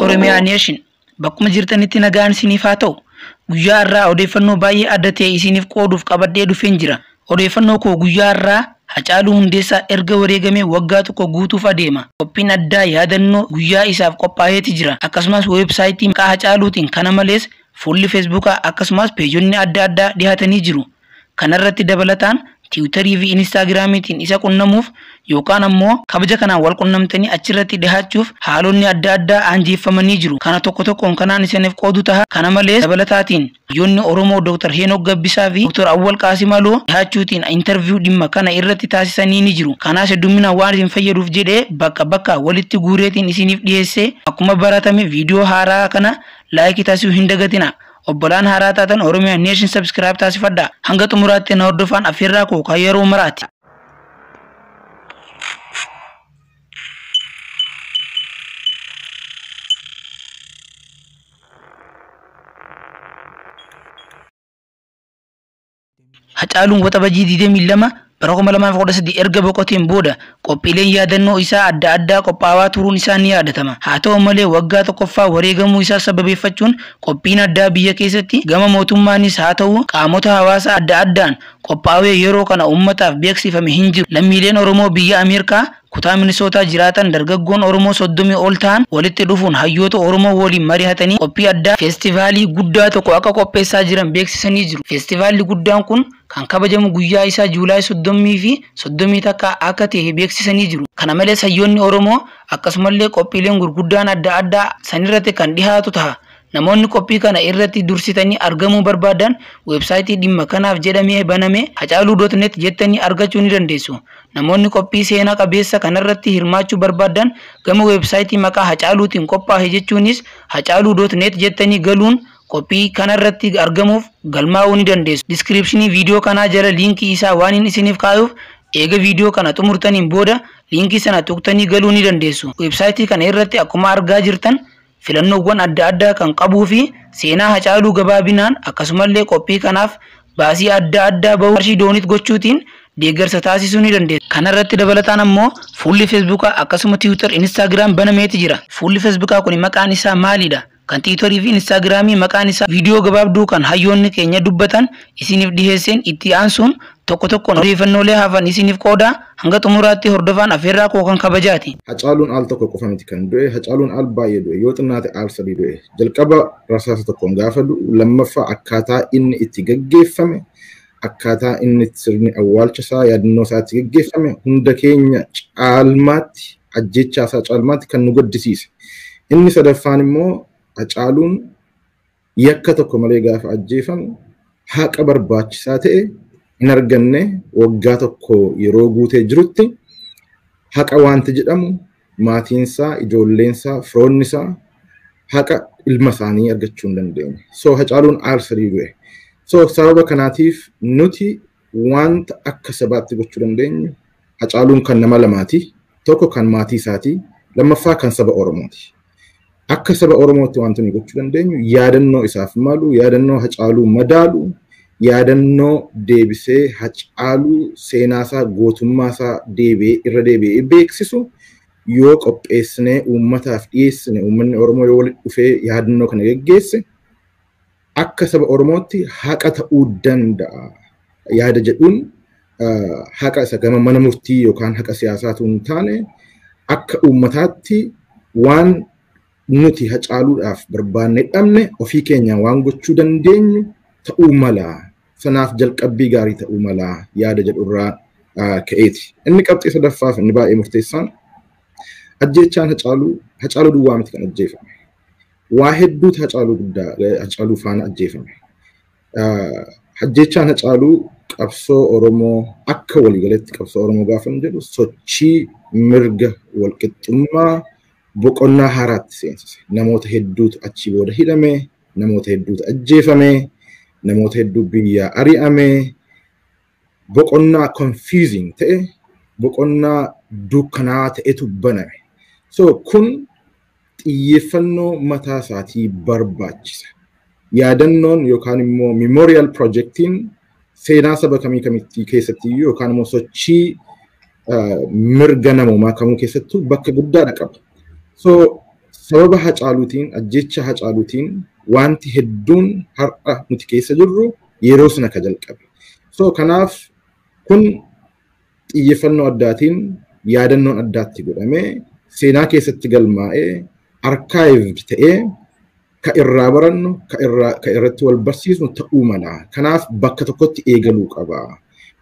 Oromiyaa Nation bakkuma jirtanitti nagaan isiniif haa ta'u. Guyyaa har'aa odeeffannoo baay'ee adda ta'e isiniif qooduuf qabadhee dhufeen jira. Odeeffannoo koo guyyaa har'aa Hacaaluu Hundeessaa erga wareegamee waggaa tokko guutuuf adeema. Qophiin addaa yaadannoo guyyaa isaaf qophaa'eeti jira. Akkasumas weebsaayitii maqaa Hacaaluutiin kana malees fuulli feesbuukaa akkasumas peejonni adda addaa dhihaatanii jiru. Kanarratti dabalataan Tiwutarii fi Inistaagiraamiitiin isa qunnamuuf yookaan ammoo kabaja kanaan wal qunnamtanii achirratti dhihaachuuf haalonni adda addaa aanjeeffamanii jiru. Kana tokko tokkoon kanaan isiniif qoodu taha. Kana malees dabalataatiin hayyoonni Oromoo Dr. Heenok Gabbisaa fi Dr. Awwal Qaasim Aloo dhihaachuutiin interview dhimma kana irratti taasisanii ni jiru. Kanaas heddumminaan waan isin fayyaduuf jedhee bakka bakkaa walitti guureetiin isiniif dhiheesse. Akkuma baratame viidiyoo haaraa kana like taasisuu hin dagatinaa. Obbolaan haaraa taatan Oromia Nation subscribe taasifadhaa. Hanga xumuraatti na hordofaan affeerraa koo kan yeroo maraati. Hacaaluun Waxabajjii 22 bara 2013 erga boqoteen booda qophiileen yaadannoo isaa adda addaa qophaawaa turuun isaa ni yaadatama. Haa ta'u malee waggaa tokkoffaa wareegamuu isaa sababeeffachuun qophiin addaa biyya keessatti gama mootummaanis haa ta'uu qaamota hawaasaa adda addaan qophaawee yeroo kana uummataaf beeksifame hin jiru. Lammiileen Oromoo biyya Ameerkaa, Kutaa Minisootaa jiraatan dargaggoon Oromoo 30 ol tahan walitti dhufuun hayyoota Oromoo waliin marihatanii qophii addaa Festivaalii guddaa tokko akka qopheessaa jiran beeksisanii jiru. Festivaalli guddaan kun kan kabajamu guyyaa isaa July 30 fi 31 akka tahe beeksisanii jiru. Kana malees hayyoonni Oromoo akkasumallee qophiileen gurguddaan adda addaa sanirratti kan dhihaatu taha. Namoonni qophii kana irratti dursitanii argamuu barbaaddan website dhimma kanaaf jedhamee baname hacaaluu.net jettanii argachuu ni dandeessu. Namoonni qophii seena qabeessa kanarratti hirmaachuu barbaaddan gama website maqaa hacaaluutiin qophaahe jechuunis hacaaluu.net jettanii galuun qophii kanarratti argamuuf galmaa'uu ni dandeessu. Description video kanaa jala liinkii isaa waanin isiniif kaayuuf eega video kana xumurtaniin booda liinkii sana tuqtanii galuu ni dandeessu. Website kana irratti akkuma argaa jirtan filannoowwan adda addaa kan qabuu fi seenaa Hacaaluu gabaabinaan akkasumallee qophii kanaaf baasii adda addaa bahuu qarshii dooniit gochuutiin deeggarsa taasisuu ni dandeessu. Kana irratti dabalataan ammoo fuulli Feesbuukaa akkasuma Tiwiitar, Inistaagiraam banameeti jira. Fuulli Feesbuukaa kuni maqaan isaa maali dha? Kan Tiwiitarii fi Inistaagiraamii maqaan isaa Viidiyoo gabaabduu kan hayyoonni keenya dubbatan isiniif dhiheesseen itti aansuun Tokko tokkoon odeeffannoolee hafan isiiniif qooda, hanga xumuraatti hordofaan affeerraa koo kan kabajaati. Hacaaluun al tokko qofa miti kan du'e, Hacaaluun al baay'ee du'e, yoo xinnaate al sadii du'e. Jalqaba rasaasa tokkoon gaafa du'u, lammaffaa akkaataa inni itti gaggeeffame, akkaataa inni sirni awwaalcha isaa, yaadannoo isaa itti gaggeeffame hunda keenya caalmaatti, ajjeechaa isaa caalmaatti kan nu gaddisiise. Inni sadaffaan immoo Hacaaluun yakka tokko malee gaafa ajjeefamu haqa barbaachisaa ta'e hin arganne waggaa tokko yeroo guutee jirutti haqa wanti jedhamu maatiinsaa, ijoolleensaa, firoonnisaa haqa ilma isaanii argachuu hin dandeenye. So Hacaaluun aarsadii du'e. So sababa kanaatiif nuti Wanta akka sabaatti gochuu dandeenyu Hacaaluun kan nama lamaati. Tokko kan maatii isaati. Lammaffaa kan saba Oromooti. Akka saba Oromootti wanti nuyi gochuu dandeenyu yaadannoo isaaf malu, yaadannoo Hacaaluu madaalu, yaadannoo deebisee Hacaaluu seenaasaa, gootummaasaa deebi'ee irra deebi'ee beeksisu yoo qopheessinee uummataaf dhiyeessine, uummanni Oromoo yoo walitti dhufee yaadannoo kana geggeesse, akka saba Oromootti haqa ta'uu danda'a yaada jedhuun haqa isa gama mana murtii yookaan haqa siyaasaatu hin taane akka uummataatti waan nuti hacaaluudhaaf barbaannee dhabne ofii keenyaan waan gochuu dandeenyu ta'uu mala sanaaf jalqabbii gaarii ta'uu mala yaada jedhurraa ka'eeti. Inni qabxii sadaffaaf inni baay'ee murteessaan ajjeechaan hacaaluu hacaaluu duwwaa miti kan ajjeefame. waa hedduutu Hacaaluu guddaa Hacaaluu faana ajjeefame. Hajjechaan Hacaaluu qabsoo Oromoo akka waliigaleetti qabsoo Oromoo gaafa hin jedhu sochii mirga walqixxummaa boqonnaa haaraatti seensise. Namoota hedduutu achii booda hidhame, namoota hedduutu ajjeefame, namoota hedduu biyyaa ari'ame, boqonnaa confusing ta'e boqonnaa dukkanaa ta'etu baname. So kun xiyyeeffannoo mataa isaatii barbaachisa. Yaadannoon yookaan immoo memorial projectiin seenaa saba kamii kamittii keessatti iyyuu yookaan immoo sochii mirga namoomaa kamuu keessattuu bakka guddaadha qaba. So Sababa Hacaaluutiin, ajjeechaa Hacaaluutiin waanti hedduun har'a nuti keessa jirru yeroo sana ka jalqabe. So kanaaf kun xiyyeeffannoo addaatiin yaadannoon addaatti godhamee seenaa keessatti galmaa'ee archived ta'ee ka irraa barannu ka irraa ka irratti wal barsiisnu ta'uu mala. Kanaaf bakka tokkotti eegaluu qaba.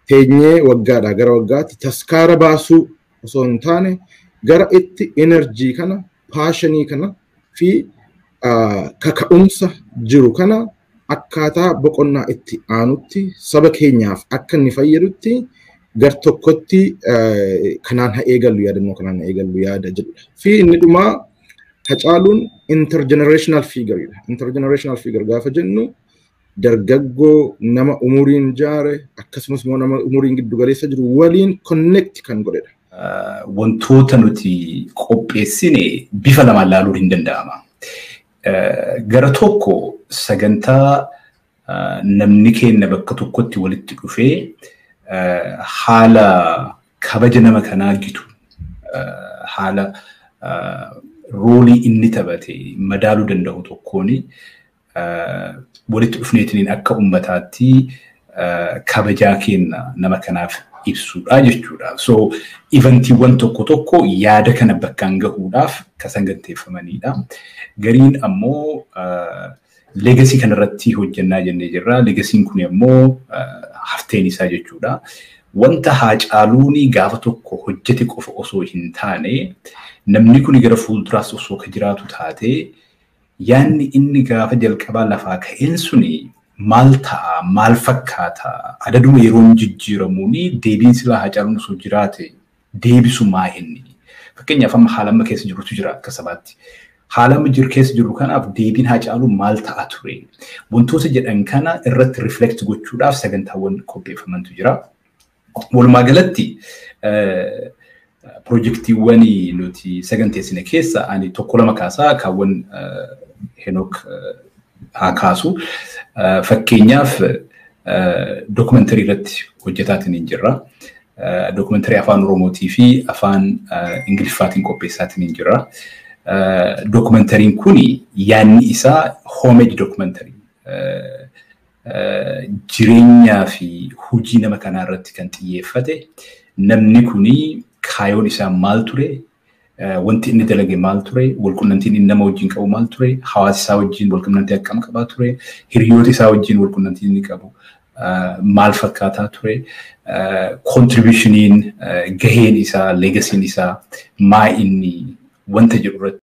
Teenyee waggaadhaa gara waggaatti taskaara baasuu osoo hin taane gara itti enerjii kana paashinii kana fi kaka'umsa jiru kana akkaataa boqonnaa itti aanutti saba keenyaaf akka inni fayyadutti gar tokkotti kanaan haa eegallu yaadannoo kanaan haa eegallu yaada jedhudha. Fi inni dhumaa Hacaaluun intergenerational figure dha. Intergenerational figure gaafa jennu dargaggoo nama umuriin jaare akkasumas immoo nama umuriin giddu galeessa jiru waliin connect kan godhedha. Wantoota nuti qopheessine bifa lamaan ilaaluun hin danda'ama. Gara tokko sagantaa namni keenya bakka tokkotti walitti dhufee haala kabaja nama kanaa gitu haala roolii inni taphate madaaluu danda'u tokkoon walitti dhufneetiin akka ummataatti kabajaa keenya nama kanaaf ibsuudha jechuudha. So ivantiiwwan tokko tokko yaada kana bakkaan gahuudhaaf kan saganteeffamanidha. Gariin ammoo leegasii kanarratti hojjannaa jennee jirra. Leegasiin kun ammoo hafteen isaa jechuudha. Wanta haacaaluun gaafa tokko hojjete qofa osoo hin taane namni kun gara fuulduraas osoo ka jiraatu taate Yaanni inni gaafa jalqabaa lafaa ka'een suni maal ta'a, maal fakkaata, adaduma yeroon jijjiiramuuni deebiin silaa Haacaaluun osoo jiraate deebisu maa inni? Fakkeenyaaf amma haala amma keessa jirrutu jira akka sabaatti. Haala amma jir keessa jirru kanaaf deebiin Haacaaluu maal ta'a ture? Wantoota jedhan kana irratti reflect gochuudhaaf sagantaawwan qopheeffamantu jira. Walumaa galatti pirojektiiwwan nuti saganteessine keessa ani tokko lama kaasaa kaawwan Henook haa kaasu. Fakkeenyaaf dookumentarii irratti hojjetaatiin hin jirra. Dookumentarii afaan Oromootii fi afaan Ingiliffaatiin qopheessaatiin hin jirra. Dookumentariin kun yaadni isaa homage dookumentarii jireenyaa fi hojii nama kanaa irratti kan xiyyeeffate namni kun kaayoon isaa maal ture wanti inni dalage maal ture walqunnamtiin inni nama wajjin qabu maal ture hawaasa isaa wajjin walqunnamtii akkam qabaa ture hiriyoota isaa wajjin walqunnamtiin inni qabu maal fakkaataa ture kontribushiniin gaheen isaa legasiin isaa maa inni wanta jedhu irratti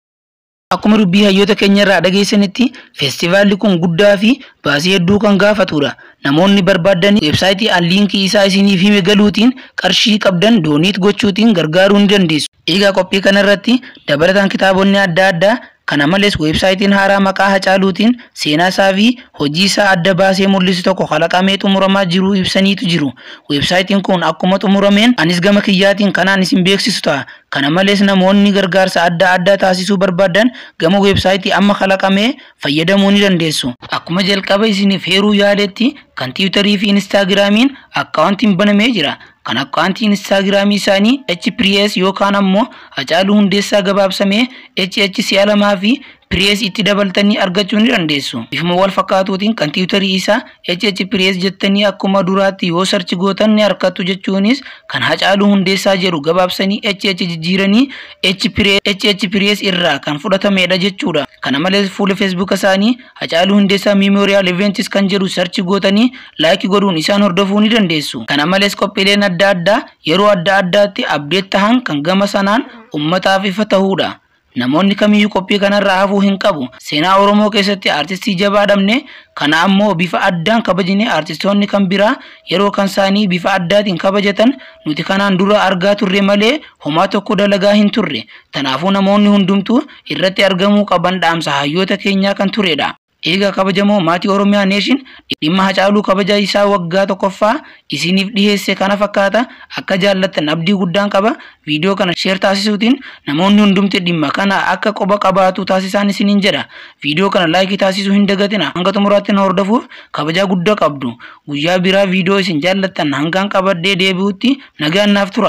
Akkuma dubbii hayyoota keenya irraa dhageessanitti feestivaalli kun guddaa fi baasii hedduu kan gaafatudha. Namoonni barbaaddanii weebsaayitii an liinkii isaa isiniif hime galuutiin qarshii qabdan dooniit gochuutiin gargaaruu ni dandeessu. Egaa qophii kana irratti dabalataan kitaabonni adda addaa kana malees weebsaayitiin haaraa maqaa Hacaaluutiin seenaa isaa fi hojii isaa adda baasee mul'isu tokko kalaqamee xumuramaa jiruu ibsaniitu jiru. Weebsaayitiin kun akkuma xumurameen anis gama kiyyaatiin kanaan isin beeksisu ta'a. Kana malees namoonni gargaarsa adda addaa taasisuu barbaadan gama weebsaayitii amma kalaqamee fayyadamuu ni dandeessu. Akkuma jalqaba isiniif heeruu yaadetti kan Tiwutarii fi Inistaagiraamiin akkaawuntiin banamee jira. Kan akkaawuntii Inistaagiraamii isaanii H-Priyes yookaan ammoo Hacaaluu Hundeessaa gabaabsamee HH si'a lamaa fi Press itti dabaltanii argachuu ni dandeessu. Bifuma wal fakkaatuutiin kan tiwutarii isaa HH Press jettanii akkuma duraatti yoo search gootan ni argattu jechuunis kan Hacaaluu Hundeessaa jedhu gabaabsanii HH jijjiiranii H Press HH Press irraa kan fudhatameedha jechuudha. Kana malees fuula Facebook isaanii Hacaaluu Hundeessaa Memorial Events kan jedhu search gootanii like godhuun isaan hordofuu ni dandeessu. Kana malees qophiileen adda addaa yeroo adda addaatti update tahan kan gama sanaan ummataaf ifa tahuudha. Namoonni kamiyyuu qophii kanarraa hafuu hin qabu. Seenaa Oromoo keessatti aartistii jabaa dhabne, kana ammoo bifa addaan kabajnee aartistoonni kan biraa yeroo kansaanii bifa addaatiin kabajatan nuti kanaan dura argaa turre malee homaa tokko dalagaa hin turre. Tanaafuu namoonni hundumtuu irratti argamuu qaban dhaamsa hayyoota keenyaa kan turedha. Eegaa kabajamoo maatii Oromia Nation dhimma Hacaaluu kabaja isaa waggaa 1ffaa isiiniif dhiheesse kana fakkaata akka jaallattan abdii guddaan qaba video kana share taasisuutiin namoonni hundumti dhimma kana akka quba qabaatu taasisaan isiniin jedha video kana like taasisuu hin dagatina hanga xumuraatti nu hordofuuf kabajaa gudda qabdu guyyaa biraa video isin jaallattan hangaan qabadhee deebi'utti nagaan naaf tura.